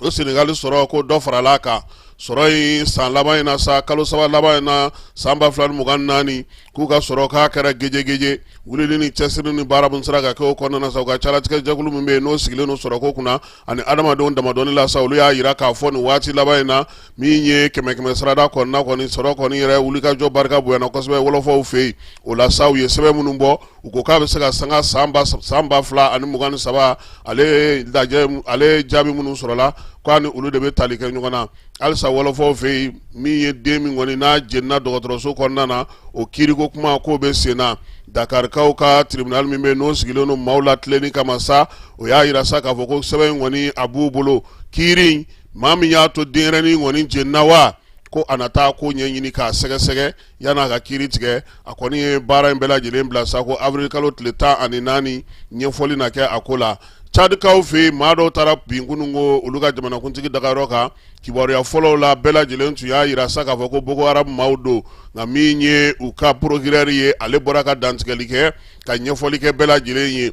o senegali sɔrɔ ko dɔ farala kan sɔrɔ in san laban in na sa kalo saba laban in na san ba fila ni mugan naani k'u ka sɔrɔ k'a kɛra gejegeje wulili ni cɛsiri ni baara min sera ka kɛ o kɔnɔna sa u ka jalatigɛjɛkulu min bɛ yen n'o sigilen don sɔrɔ ko kunna ani adamadenw damadɔnni la sa olu y'a jira k'a fɔ nin waati laban in na min ye kɛmɛ kɛmɛ sarada kɔnɔna kɔni sɔrɔ kɔni yɛrɛ wulikajɔ barika bonyana kosɛbɛ wɔlɔfɔw fɛ yen o la sa u ye sɛbɛn minnu bɔ u ko k'a bɛ se ka sanga san ba sab- san ba fila ani mugan ni saba ale ye lajɛ mu- ale ye jaabi minnu sɔrɔla k'a ni olu de bɛ tali kɛ ɲɔgɔn na halisa wɔlɔfɔw fɛ yen min ye den min kɔni n'a jenina dɔgɔtɔrɔso kɔnɔna na o kiiriko kuma k'o bɛ sen na dakarikaw ka tribunal min bɛ yen n'o sigilen don maaw latilenni kama sa o y'a yira sa k'a fɔ ko sɛbɛn in kɔni a b'u bolo kiiri in maa min y'a to denɲɛrɛnin kɔni jenina wa ko a na taa k'o ɲɛɲini k'a sɛgɛsɛgɛ yanni a ka kiiri tigɛ a kɔni ye baara in bɛɛ lajɛlen bila sa ko avril kalo tile tan ani naani ɲɛfɔli na kɛ a ko la cadikaw fɛ yen maa dɔw taara bin kunun ko olu ka jamanakuntigi dagayɔrɔ kan kibaruya fɔlɔw la bɛɛ lajɛlen tun y'a yira sa k'a fɔ ko boko haram maaw don nka min ye u ka porokurɛri ye ale bɔra ka dantigɛli kɛ ka ɲɛfɔli kɛ bɛɛ lajɛlen ye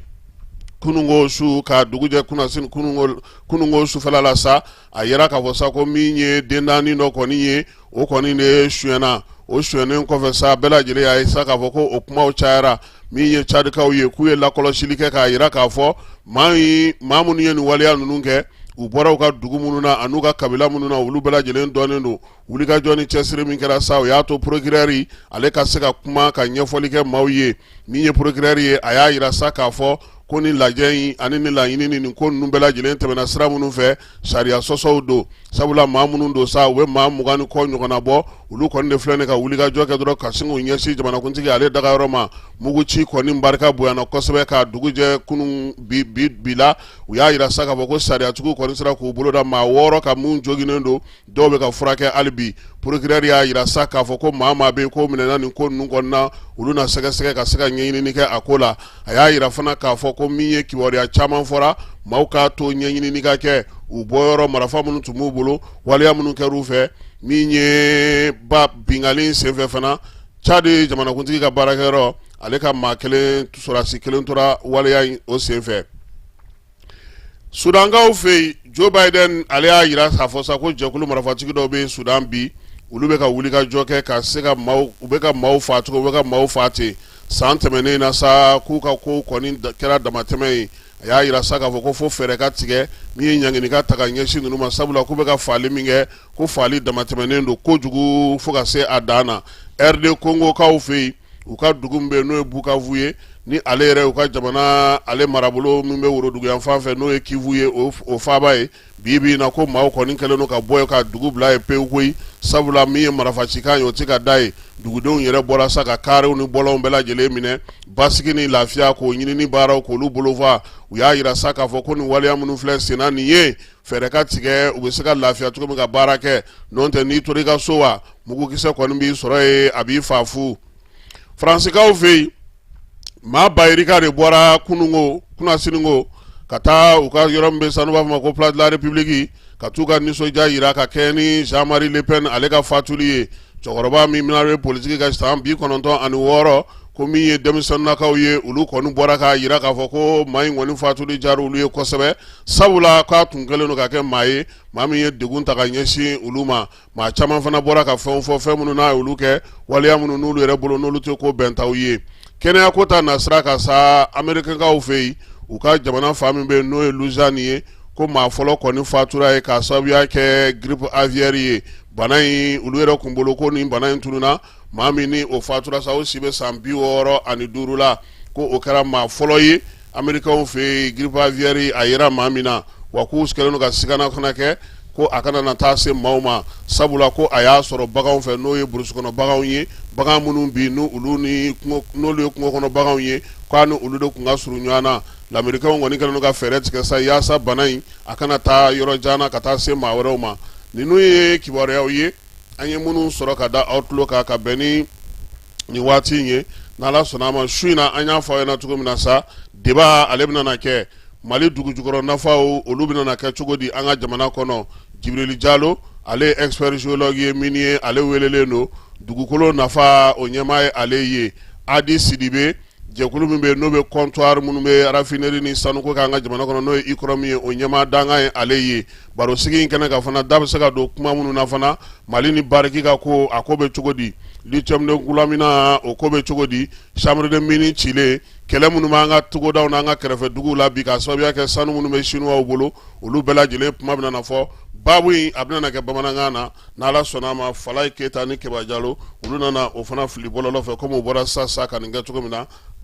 kunungo su ka dugujɛ kunasini kunungo kununko sufɛla la sa a yera k'a fɔ sa ko min ye den naani dɔ kɔni ye o kɔni de suyɛnna o suyɛnnen kɔfɛ sa bɛɛ lajɛlen y'a ye sa k'a fɔ ko o kumaw cayara min ye cadikaw ye k'u ye lakɔlɔsili kɛ k'a yira k'a fɔ maa maa minnu ye nin waleya ninnu kɛ u bɔra u ka dugu minnu na an'u ka kabila minnu na olu bɛɛ lajɛlen dɔnnen don wulikajɔ ni cɛsiri min kɛra sa o y'a to porokurɛri ale ka se ka kuma ka ɲɛfɔli kɛ maaw ye min ye porokurɛri ye a y'a yira sa k'a fɔ ko ni lajɛ in ani ni laɲini ni nin ko ninnu bɛɛ lajɛlen tɛmɛna sira minnu fɛ sariya sɔsɔw don sabula maa minnu don sa u bɛ maa mugan ni kɔ ɲɔgɔnna bɔ olu kɔni de filɛ nin ka wulikajɔ kɛ dɔrɔn ka sin k'u ɲɛsin jamanakuntigi ale dagayɔrɔ ma muguci kɔni barika bonyana kosɛbɛ ka dugu jɛ kunun bi bi bi la u y'a yira sa k'a fɔ ko sariyatigiw kɔni sera k'u bolo da maa wɔɔrɔ kan min joginnen don Dɔw bɛ ka furakɛ hali bi porokurɛri y'a yira sa k'a fɔ ko maa maa bɛ ko minɛna nin ko ninnu kɔnɔna olu na sɛgɛsɛgɛ ka se ka ɲɛɲinini kɛ a ko la a y'a yira fana k'a fɔ ko min ye kibaruya caman fɔra maaw k'a to ɲɛɲinini ka kɛ u bɔyɔrɔ marafa minnu tun b'u bolo waleya minnu kɛr'u fɛ min ye ba binkanli senfɛ fana cadi jamanakuntigi ka baarakɛyɔrɔ ale ka maa kelen sɔrɔsi kelen tora waleya in o senfɛ sudankaw fɛ yen jo biden ale y'a yira k'a fɔ sa ko jɛkulu marafatigi dɔw bɛ sudan bi olu bɛ ka wulikajɔ kɛ ka se ka maaw u bɛ ka maaw faa cogo u bɛ ka maaw faa ten san tɛmɛnen na sa k'u ka kow kɔni kɛra damatɛmɛ ye a y'a yira sa k'a fɔ ko fo fɛɛrɛ ka tigɛ min ye ɲangini ka ta ka ɲɛsin ninnu ma sabula k'u bɛ ka faali min kɛ ko faali damatɛmɛnen don kojugu fo ka se a dan na rd kongokaw fɛ yen u ka dugu min bɛ yen n'o ye bukavu ye ni ale yɛrɛ u ka jamana ale marabolo min bɛ woroduguyan fan fɛ n'o ye kivu ye o faaba ye bi bi na ko maaw kɔni kɛlen don ka bɔ ka dugu bila yen pewu koyi sabula min ye marafacikan ye o tɛ ka da yen dugudenw yɛrɛ bɔra sa ka karew ni bɔlɔnw bɛɛ lajɛlen minɛ basigi ni lafiya k'o ɲinini baaraw k'olu bolofa u y'a yira sa k'a fɔ ko nin waleya minnu filɛ senna nin ye fɛɛrɛ ka tigɛ u bɛ se ka lafiya cogo min ka baara kɛ n'o tɛ n'i tora i ka so wa mugukisɛ kɔni b'i sɔrɔ yen a b'i faa fu faransikaw fɛ yen maa ba yirika de bɔra kununko kunasininko ka taa u ka yɔrɔ min bɛ sa n'u b'a fɔ ma ko place de la république ka t'u ka nisɔndiya yira ka kɛɲɛ ni Jean Marie Le Pen ale ka fatuli ye cɛkɔrɔba min n'ale bɛ politiki ka san bi kɔnɔntɔn ani wɔɔrɔ ko min ye denmisɛnnakaw ye olu kɔni bɔra k'a yira k'a fɔ ko maa in kɔni fatuli diyara olu ye kosɛbɛ sabula k'a tun kɛlen don ka kɛ maa ye maa min ye degun ta ka ɲɛsin olu ma maa caman fana bɔra ka fɛnw fɔ fɛn minnu n'a ye olu kɛ waleya minnu n'olu yɛrɛ bolo n'olu tɛ ko bɛntaw ye kɛnɛyako ta nasira kan sa amerikɛnkaw fɛ yen u ka jamana fan min bɛ yen n'o ye Louisiane ye ko maa fɔlɔ kɔni fatura yen k'a sababuya kɛ grippe aviaire ye bana in olu yɛrɛ tun bolo ko nin bana in tununna maa min ni o fatura sa o si bɛ san bi wɔɔrɔ ani duuru la ko o kɛra maa fɔlɔ ye amerikaw fɛ yen grippe aviaire a yera maa min na wa k'u kɛlen don ka sigana fana kɛ ko a kana na taa se maaw ma sabula ko a y'a sɔrɔ baganw fɛ n'o ye burusi kɔnɔ baganw ye bagan minnu bi n'olu ye kungo kɔnɔ baganw ye k'a ni olu de tun ka surun ɲɔgɔn na lamerikɛnw kɔni kɛlen don ka fɛɛrɛ tigɛ sa yaasa bana in a kana taa yɔrɔ jan na ka taa se maa wɛrɛw ma ninnu ye kibaruyaw ye an ye minnu sɔrɔ ka da aw tulo kan ka bɛn ni nin waati in ye n' ala sɔnna a ma su in na an y'a fɔ aw ɲɛna cogo min na sa débat ale bɛna kɛ mali dugu jukɔrɔ nafaw olu bɛna kɛ cogo di an ka jamana kɔnɔ Jibirili Jalo ale ye expert géologue minier ale welelen don dugukolo nafa o ɲɛmaa ye ale ye adi sidibe Jɛkulu min bɛ n'o bɛ comptoir minnu bɛ raffinerie ni sanu ko k'an ka jamana kɔnɔ n'o ye UCROM ye o ɲɛmaa dankan ye ale ye baro sigi in kɛnɛ kan fana da bɛ se ka don kuma minnu na fana mali ni Barrick ka ko a ko bɛ cogo di lithium de Goulamina o ko bɛ cogo di chambre des mines cilen kɛlɛ minnu b'an ka togodaw n' an ka kɛrɛfɛ duguw la bi k'a sababuya kɛ sanu minnu bɛ sinuwaw bolo olu bɛɛ lajɛlen kuma bɛna na fɔ babu in a bɛna kɛ bamanankan na ni ala sɔnna a ma Falaye Keyita ni Kɛba Jalo olu nana o fana fili bɔlɔlɔ fɛ kɔmi o bɔra sa sa ka nin kɛ cogo min na